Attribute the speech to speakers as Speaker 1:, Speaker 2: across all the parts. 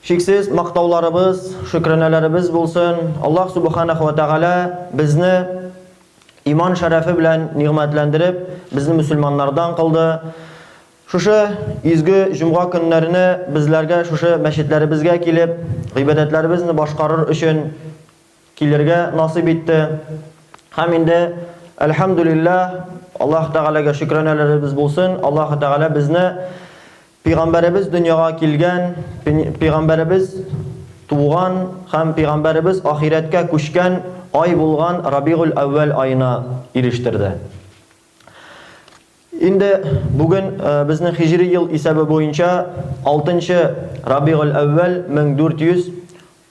Speaker 1: Чиксез мактауларыбыз, шөкранәләребез булсын, Аллаһ Субханәһү вә Тәгалә безне иман шәрәфе белән нигъмәтләндереп, безне мөселманнардан кылды. Шушы изге җомга көннәренә безләргә шушы мәчетләребезгә килеп, гыйбадәтләребезне башкарыр өчен килергә насыйп итте. Һәм инде, әлхәмдүлилләһ, Аллаһ Тәгаләгә шөкранәләребез булсын, Аллаһ Тәгалә безне пигамбәребез дөньяга килгән, пигамбәребез туган һәм пигамбәребез ахирәткә күчкән ай булган Рабигуль-әүвәл аена ирештерде. Инде бүген э, безнең хиҗри ел исәбе буенча 6 нчы Рабигуль-әүвәл 1400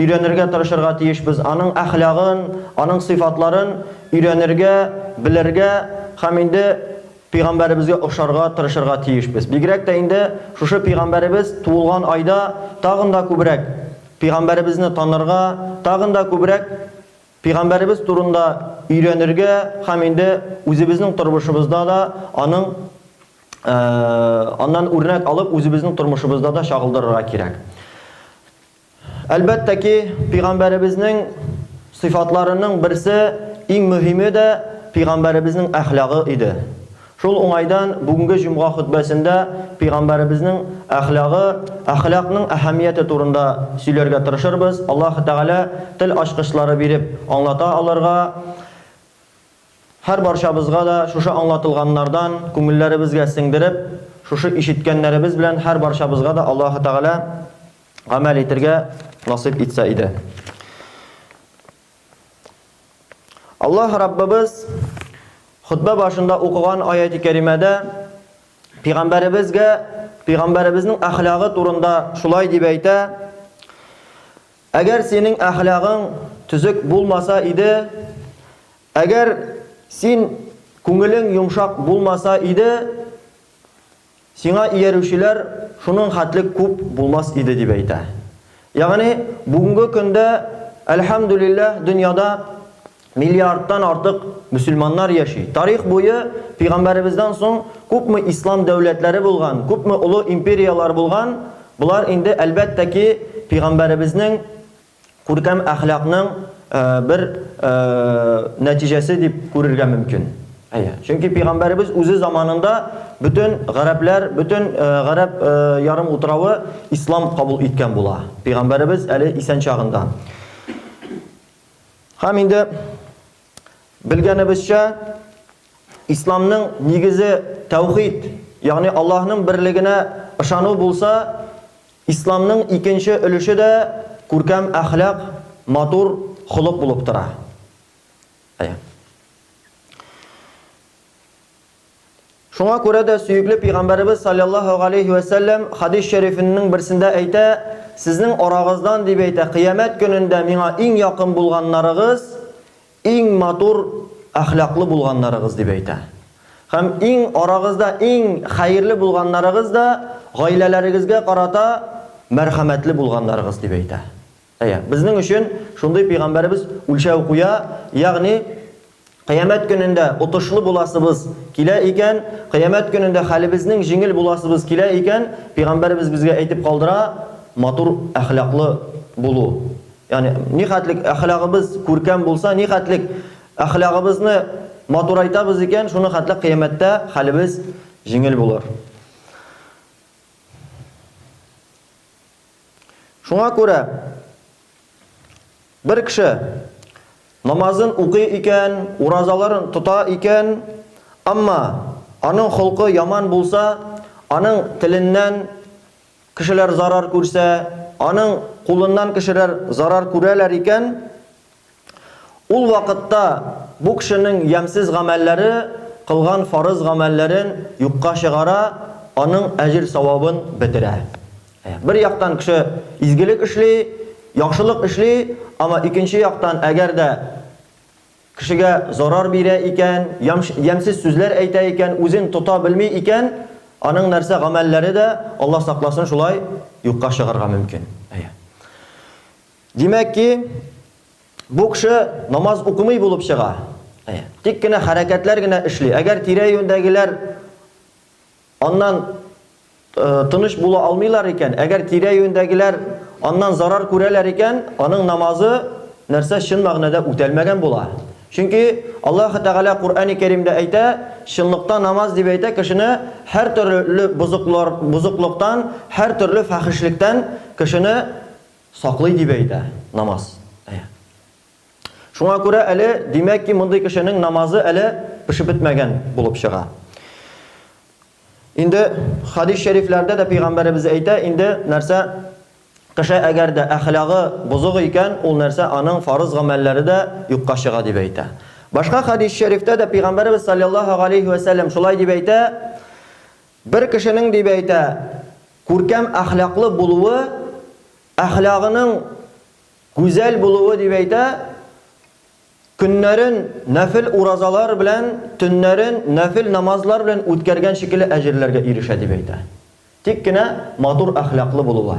Speaker 1: Өйрәнергә тырышырга тиешбез, аның әхлагын, аның сыйфатларын өйрәнергә, белергә һәм инде Пәйгамбәребезгә охшарга тырышырга тиешбез. Бигрәк тә инде шушы Пәйгамбәребез туылган айда тагын да күбрәк Пәйгамбәребезне танырга, тагын да күбрәк Пәйгамбәребез турында өйрәнергә һәм инде үзебезнең тормышыбызда да аның аннан үрнәк алып, үзебезнең тормышыбызда да чагылдырырга кирәк. Әлбәттә ки, пигамбәребезнең сыйфатларының берсе, иң мөһиме дә пигамбәребезнең әхлагы иде. Шул уңайдан бүгенге җомга хөтбәсендә пигамбәребезнең әхлагы, әхлакның әһәмияте турында сөйләргә тырышырбыз, Аллаһы Тәгалә тел ачкычлары биреп аңлата алырга, һәрбарчабызга да шушы аңлатылганнардан күңелләребезгә сеңдереп, шушы ишеткәннәребез белән һәрбарчабызга да Аллаһы Тәгалә гамәл итергә насыйп итсә иде. Аллаһ Раббыбыз хутбә башында укыган аяти кәримәдә пигамбәребезгә, пигамбәребезнең әхлагы турында шулай дип әйтә: Әгәр синең әхлагың төзек булмаса иде, әгәр син күңелең йомшак булмаса иде, Сиңа иярүчеләр шуның хәтле күп булмас иде, дип әйтә. Ягъни, бүгенге көндә, әлхәмдүлилләһ, дөньяда миллиардтан артык мөселманнар яши. Тарих буе Пәйгамбәребездән соң күпме ислам дәүләтләре булган, күпме олы империяләр булган, болар инде, әлбәттә ки, Пәйгамбәребезнең Күркәм әхлакның бер нәтиҗәсе дип күрергә мөмкин. Әйе. Чөнки пигамбәребез үзе заманында бөтен гарәпләр, бөтен гарәп ярым утравы ислам кабул иткән була. Пигамбәребез әле исән чагында. Һәм инде Белгәнебезчә, Исламның нигезе тәүхид, ягъни Аллаһның берлегенә ышану булса, Исламның икенче өлеше дә күркәм әхлак, матур холык булып тора. Әйе. Шуңа күрә дә сөекле пигамбәребез салләллаһу галәйһи вә сәлләм хәдис шәрифененең берсендә әйтә, Сезнең арагыздан, дип әйтә, кыямәт көнендә миңа иң якын булганнарыгыз, иң матур әхлаклы булганнарыгыз, дип әйтә. Һәм иң арагызда иң хәерле булганнарыгыз да гаиләләрегезгә карата мәрхәмәтле булганнарыгыз, дип әйтә. Әйе, безнең өчен шундый пәйгамбәребез үлчәү куя, ягъни Кыямәт көнендә отышлы буласыбыз килә икән, Кыямәт көнендә хәлебезнең җиңел буласыбыз килә икән, пәйгамбәребез безгә әйтеп калдыра, матур әхлаклы булу. Ягъни нихәтлек әхлагыбыз күркәм булса, нихәтлек әхлагыбызны матурайтабыз икән, шуның хәтле Кыямәттә хәлебез җиңел булыр. Шуңа күрә бер кеше намазын укый икән, уразаларын тота икән, әмма аның холкы яман булса, аның теленнән кешеләр зарар күрсә, аның кулыннан кешеләр зарар күрәләр икән, Ул вакытта бу кешенең ямьсез гамәлләре кылган фарыз гамәлләрен юкка чыгара, аның әҗер-савабын бетерә. Бер яктан кеше изгелек эшли, яхшылык эшли, әмма икенче яктан әгәр дә кешегә зарар бирә икән, ямьсез сүзләр әйтә икән, үзен тота белми икән, аның нәрсә, гамәлләре дә, Алла сакласын, шулай юкка чыгарга мөмкин. Әйе. Димәк ки, бу кеше намаз укымый булып чыга. Әйе. Тик кенә хәрәкәтләр генә эшли. Әгәр тирә-юньдәгеләр аннан э, тыныч була алмыйлар икән, әгәр тирә-юньдәгеләр аннан зарар күрәләр икән, аның намазы нәрсә чын мәгънәдә үтәлмәгән була. Чөнки Аллаһ Тәгалә Куръани Кәримдә әйтә, чынлыкта намаз дип әйтә кешене һәр төрле бозыклар, бозыклыктан, һәр төрле фәхишлектән кешене Саклый дип әйтә, намаз. Әйе. Шуңа күрә әле, димәк ки, мондый кешенең намазы әле пешеп бетмәгән булып чыга. Инде хадис шәрифләрдә дә пәйгамбәребез әйтә, инде нәрсә кеше әгәр дә әхлагы бозык икән, ул нәрсә аның фарыз гамәлләре дә юкка чыга дип әйтә. Башка хадис шәрифтә дә пәйгамбәребез саллаллаһу галәйһи вә сәлләм шулай дип әйтә, Бер кешенең, дип әйтә, күркәм әхлаклы булуы, әхлагының гүзәл булуы, дип әйтә, көннәрен нәфел уразалар белән, төннәрен нәфел намазлар белән үткәргән шикелле әҗерләргә ирешә, дип әйтә. Тик кенә матур әхлаклы булуы.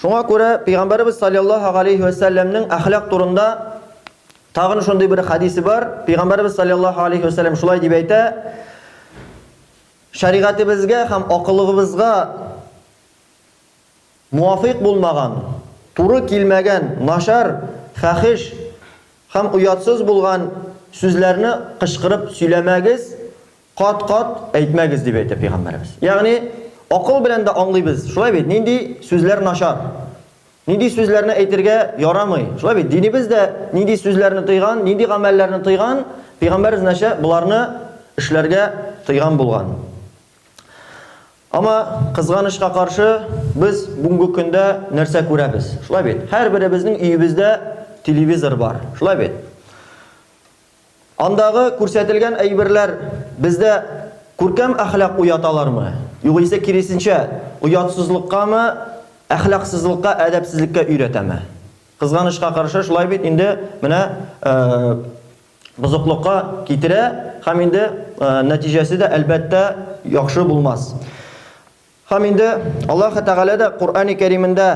Speaker 1: Шуңа күрә пәйгамбәребез саллаллаһу алейһи ва сәлләмнең әхлак турында тагын шундый бер хадисе бар. Пәйгамбәребез саллаллаһу алейһи ва сәлләм шулай дип әйтә: Шәригатебезгә һәм акылыгыбызга муафик булмаган, туры килмәгән, начар, фәхеш һәм оятсыз булган сүзләрне кычкырып сөйләмәгез, Кат-кат әйтмәгез, дип әйтә Пәйгамбәребез. Ягъни, акыл белән дә аңлыйбыз, шулай бит, нинди сүзләр начар, нинди сүзләрне әйтергә ярамый, шулай бит, динебез дә нинди сүзләрне тыйган, нинди гамәлләрне тыйган, Пәйгамбәребез нәчә боларны эшләргә тыйган булган. Ама, кызганычка каршы, без бүгенге көндә нәрсә күрәбез, шулай бит, һәрберебезнең өебездә телевизор бар, шулай бит. Андагы күрсәтелгән әйберләр бездә күркәм әхлак уяталармы, югыйсә киресенчә, оятсызлыккамы, әхлаксызлыкка, әдәпсезлеккә өйрәтәме? Кызганычка каршы, шулай бит, инде менә бозыклыкка китерә һәм инде нәтиҗәсе дә, әлбәттә, яхшы булмас. Һәм инде Аллаһы Тәгалә дә Коръәни Кәримендә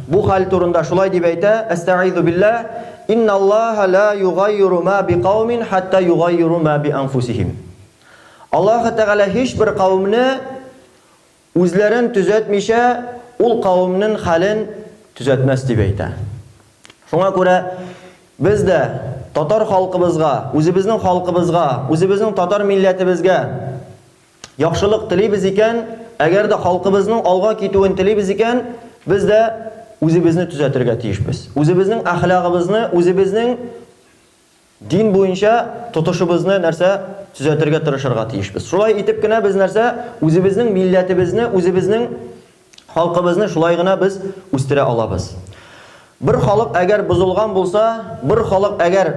Speaker 1: бу хәл турында шулай дип әйтә, Әстәгыйзу билләһ, Инналлаһа ләә югаййиру мә бикаумин хәттә югаййиру мә бианфусихим. Аллаһы Тәгалә һичбер кавемне үзләрен төзәтмичә, ул кавемнең хәлен төзәтмәс дип әйтә. Шуңа күрә без дә татар халкыбызга, үзебезнең халкыбызга, үзебезнең татар милләтебезгә, Яхшылык телибез икән, әгәр дә халкыбызның алга китүен телибез икән, без дә үзебезне төзәтергә тиешбез. Үзебезнең әхлагыбызны, үзебезнең дин буенча тотышыбызны нәрсә төзәтергә тырышырга тиешбез. Шулай итеп кенә без нәрсә? Үзебезнең милләтебезне, үзебезнең Халкыбызны шулай гына без үстерә алабыз. Бер халык әгәр бозылган булса, бер халык әгәр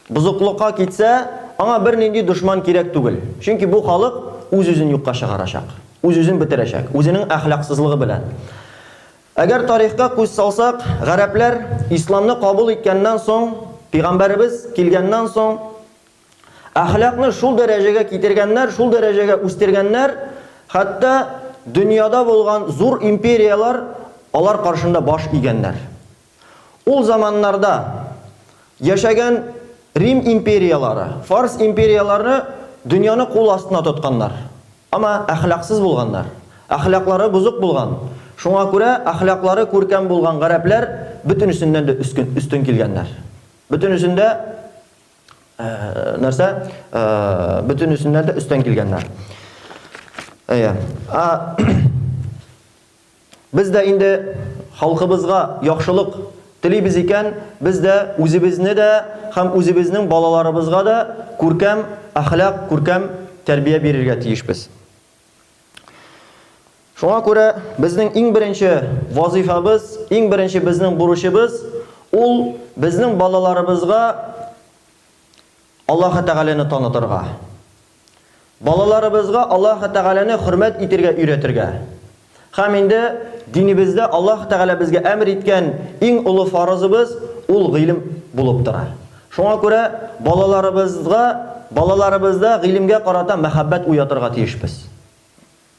Speaker 1: бозыклыкка китсә, аңа бернинди дошман кирәк түгел. Чөнки бу халык үз-үзен юкка чыгарачак, үз-үзен бетерәчәк, үзенең әхлаксызлыгы белән. Әгәр тарихка күз салсак, гарәпләр исламны кабул иткәннән соң, пигамбәребез килгәннән соң, Әхлакны шул дәрәҗәгә китергәннәр, шул дәрәҗәгә үстергәннәр, хәтта дөньяда булган зур империяләр алар каршында баш игәннәр. Ул заманнарда яшәгән Рим империяләре, Фарс империяләре дөньяны кул астына тотканнар. Ама әхлаксыз булганнар. Әхлаклары бозык булган. Шуңа күрә әхлаклары күркәм булган гарәпләр бөтенесеннән дә өстен килгәннәр. Бөтенесен дә. Э, нәрсә э, бөтен исемнәр дә өстән килгәннәр әйе без дә инде халкыбызга яхшылык телибез икән без дә үзебезне дә һәм үзебезнең балаларыбызга да күркәм әхлак күркәм тәрбия бирергә тиешбез Шуңа күрә безнең иң беренче вазыйфабыз, иң беренче безнең бурычыбыз ул безнең балаларыбызга Аллаһы Тәгаләне танытырга. Балаларыбызга Аллаһы Тәгаләне хөрмәт итергә өйрәтергә. Һәм инде динебездә Аллаһ Тәгалә безгә әмер иткән иң олы фарызыбыз, ул гыйлем булып тора. Шуңа күрә балаларыбызга, балаларыбызда гыйлемгә карата мәхәббәт уятырга тиешбез.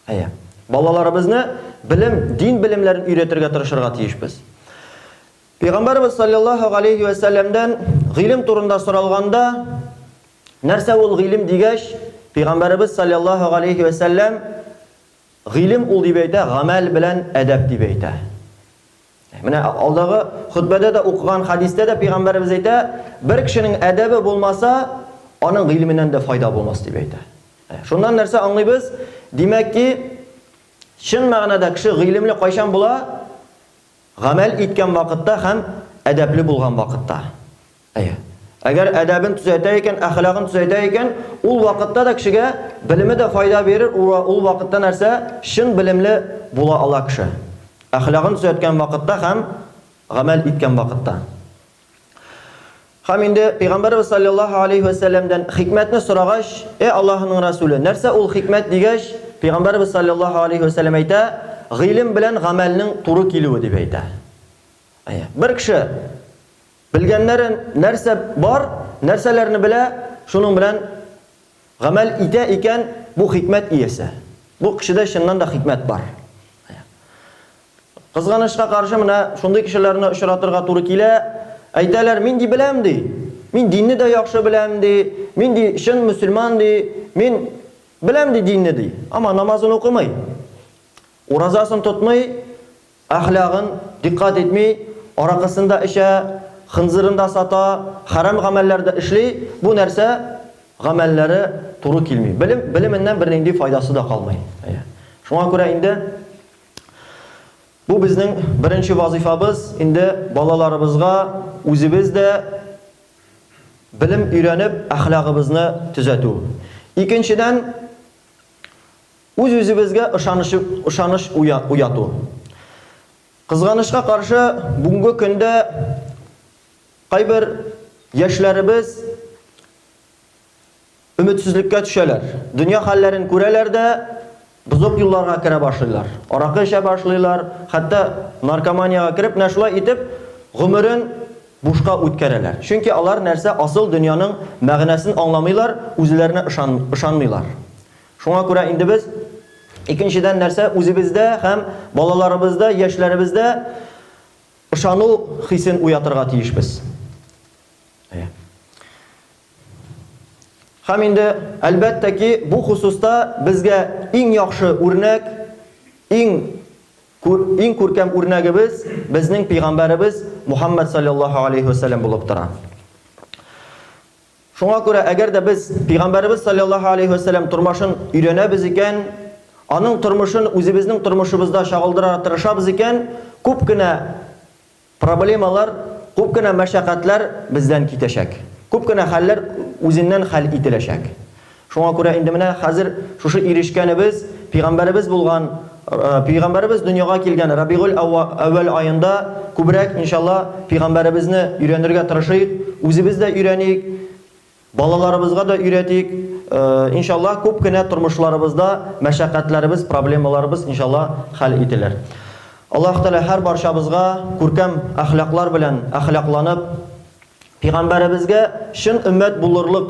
Speaker 1: Әйе. Балаларыбызны белем, дин белемнәрен өйрәтергә тырышырга тиешбез. Пәйгамбәрбез салләллаһу галәйһи вә сәлләмдән гыйлем турында соралганда, нәрсә ул гыйлем дигәч, Пәйгамбәрбез салләллаһу галәйһи вә сәлләм, Гыйлем ул дип әйтә, гамәл белән әдәп дип әйтә. Менә алдагы хөтбәдә дә укыган хәдистә дә пәйгамбәребез әйтә, бер кешенең әдәбе булмаса, аның гыйлеменнән дә файда булмас дип әйтә. Шуннан нәрсә аңлыйбыз? Димәк ки, чын мәгънәдә кеше гыйлемле кайчан була? Гамәл иткән вакытта һәм әдәпле булган вакытта. Әйе. Әгәр әдәбен төзәтә икән, әхлагын төзәтә икән, ул вакытта да кешегә белеме дә файда бирер, ул вакытта нәрсә? Чын белемле була ала кеше. Әхлагын төзәткән вакытта һәм гамәл иткән вакытта. Һәм инде Пәйгамбәрбез саллаллаһу алейһи вә сәлләмдән хикмәтне сорагач, Э Аллаһының Расуле, нәрсә ул хикмәт дигәч, Пәйгамбәрбез саллаллаһу алейһи вә сәлләм әйтә, гыйлем белән гамәлнең туры килүе дип әйтә. Әйе. Бер кеше Белгәннәре нәрсә бар, нәрсәләрне белә, шуның белән гамәл итә икән, бу хикмәт иясе. Бу кешедә чыннан да хикмәт бар. Кызганычка каршы, менә шундый кешеләрне очратырга туры килә. Әйтәләр, мин ди беләм ди. Мин динне дә яхшы беләм ди. Мин ди чын мөселман ди. Мин беләм ди динне ди. Ама намазын укымый. Уразасын тотмый, Әхлагын дикъкать итми, аракысын да эчә, хынзырын да сата, хәрам гамәлләр дә эшли, бу нәрсә гамәлләре туры килми. Белем, белеменнән бернинди файдасы да калмый. Әйе. Шуңа күрә инде бу безнең беренче вазыйфабыз, инде балаларыбызга үзебез дә белем өйрәнеп, әхлагыбызны төзәтү. Икенчедән, Үз-үзебезгә ышаныч ышаныч уяту. Кызганычка каршы, бүгенге көндә кайбер яшьләребез өметсезлеккә төшәләр. Дөнья хәлләрен күрәләр дә, бозык юлларга керә башлыйлар. Аракы эчә башлыйлар, хәтта наркоманиягә кереп, менә шулай итеп, гомерен бушка үткәрәләр. Чөнки алар нәрсә, асыл дөньяның мәгънәсен аңламыйлар, үзләренә ышан ышанмыйлар. Шуңа күрә инде без, икенчедән нәрсә, үзебездә һәм балаларыбызда, яшьләребездә ышану хисен уятырга тиешбез. Әйе. Һәм инде, әлбәттә ки, бу хосуста безгә иң яхшы үрнәк, иң күр, иң күркәм үрнәгебез безнең пәйгамбәребез Мухаммад саллаллаһу алейһи ва саллям булып тора. Шуңа күрә әгәр дә без Пәйгамбәребез салләллаһу алейһи вә сәлләм тормашын өйрәнәбез икән, аның тормышын үзебезнең тормышыбызда чагылдырара тырышабыз икән, күп кенә проблемалар, күп кенә мәшәкатьләр бездән китәчәк. Күп кенә хәлләр үзеннән хәл ителәчәк. Шуңа күрә инде менә хәзер шушы ирешкәнебез пигамбәребез булган, пигамбәребез дөньяга килгән Рабигуль әүвәл аенда күбрәк, иншалла, пигамбәребезне өйрәнергә тырышыйк, үзебез дә өйрәниек, балаларыбызга да өйрәтик, иншалла, күп кенә тормышларыбызда мәшәкатьләребез, проблемаларыбыз, иншалла, хәл ителер. Аллаһ Тәгалә һәр барчабызга күркәм әхлаклар белән әхлакланып, пигамбәребезгә чын өммәт булырлык